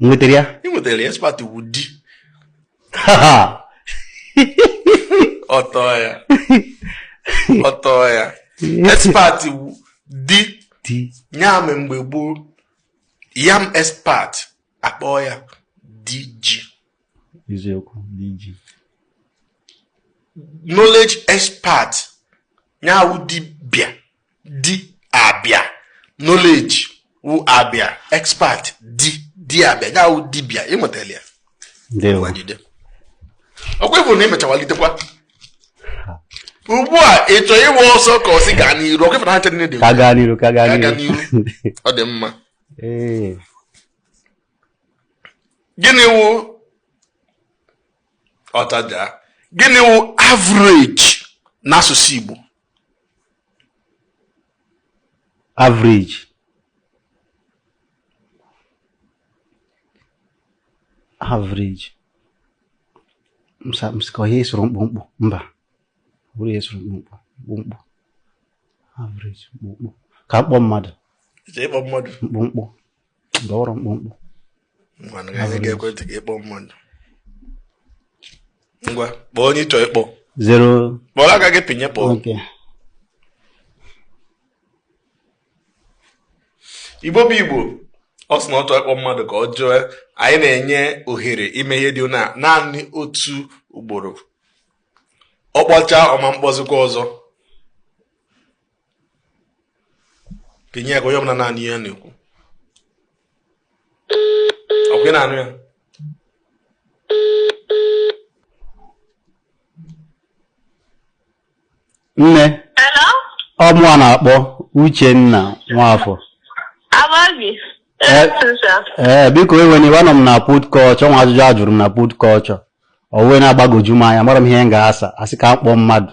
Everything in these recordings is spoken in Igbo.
nwetara ya ị nwetara ya expert wụ di ọtọ ya ọtọ ya expert di di ya me mgbe gboo yam expert a kpọọ ya di ji eziokwu di ji knowledge expert ya wụ dibịa di abịa knowledge wụ abịa expert di di abịa ya wụ dibịa ị mụtala ya ọkwa ị fụ na ị mechawalitekwa ugbu a ị chọọ ịwa ọsọ ka ọ sị gaa n'iru ọkwa ị fụ na ha chere dị ka gaa n'iru ka gaa n'iru ọ dị mma gịnị wụ ọtaja gịnị wụ average n'asụsụ Igbo average average m sị m sị ka ihe soro mkpụmkpụ mba bụrụ ihe soro mkpụmkpụ mkpụmkpụ average mkpụmkpụ ka m kpọọ mmadụ mkpụmkpụ ọ wụrọ mkpụmkpụ ngwanụ ka anyị ga-ege ntị ka ị kpọọ mmadụ ngwa kpọọ onye ị chọ ịkpọ zero kpọrọ aka gị pịnye kpọọ okay Igbo bụ Igbo ọ sị na ọ chọọ ịkpọ mmadụ ka ọ jụọ anyị na-enye ohere ime ihe dị na naanị otu ugboro ọ kpọchaa ọ ma akpọzikwa ọzọ kenye ya ka onye ọbụla na-anụ ihe ọ na-ekwu ọkwa ị na-anụ ya nne ọ mụwa na-akpọ Uchenna Nwafọ ee eh, eh, biko ewena iwe anọ m na put culture o nwe ajụjụ a jụrụ m na put culture o wee na-agbagoju m anya amarọ m ihe m ga-asa asị ka m kpọọ mmadụ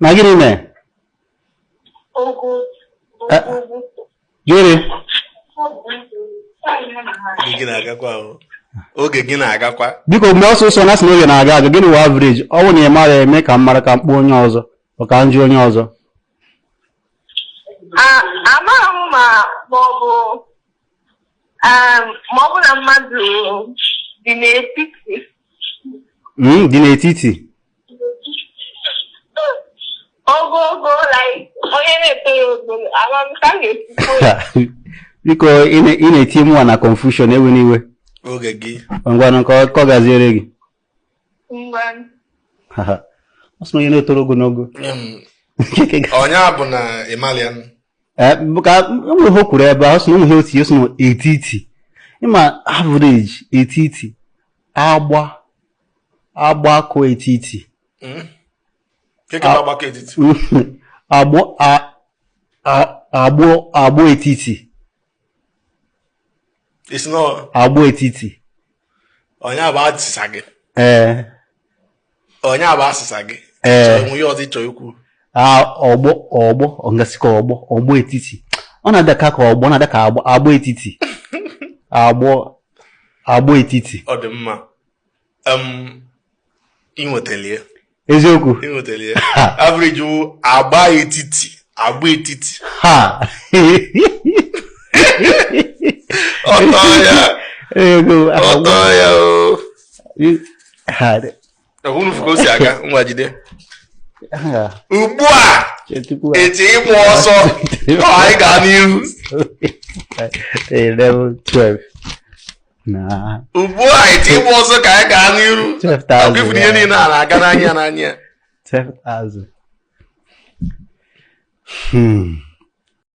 na gịnị mee Eh, gịnị Oge gị na-agakwa ahụ. Oge gị na-agakwa. biko mee ọsọsọ na a sị na oge na-aga aga gịnị wụ average ọ bụ na ị marọ mee ka m mara ka m kpọọ onye ọzọ ọ ka m jụọ onye ọzọ amaghị m ma ma ọ bụ Um, ma ọ bụ na mmadụ dị n'etiti Mm, dị n'etiti ogogo like onye na-etorọ ogo ama m ka m ga-esi kwuo ya. biko ị na- ị na-etinye mụwa na confusion ewena iwe oge gị ngwanụ ka ọ- ka ọ gaziere gị ọ sị na onye na-etoro ogologo onye a bụ na ịmalian eh, ka e nwere ihe o kwuru ebe ahụ sị na ụmụ ihe o tinye sị na etiti ịma average etiti agba agbakọ etiti hmm? agbọ etiti ị sị na agba etiti ọ nya bụ asịsa gị ee ọ nya bụ asịsa gị ee o nwe ihe ọzọ ị chọ ikwu ọgbọ ọgbọ m ga-asị ka ọgbọ ọgbọ etiti ọ na-ada ka ka ọgbọ ọ na-ada ka agba etiti agbọ agbọ etiti ọ dị mma eziokwu average agba etiti agba etiti ha ọtọ ya ọtọ ya o ọhụrụ fụ ka o si aga nwa jide ugbu a eti ịmụ ọzọ anyị gaa n'ihu Na ugbu a eti ịgba ọzọ ka anyị gaa n'iru Ọ bụ ị fụ na ihe niile a na-aga n'anya n'anya. Hmm.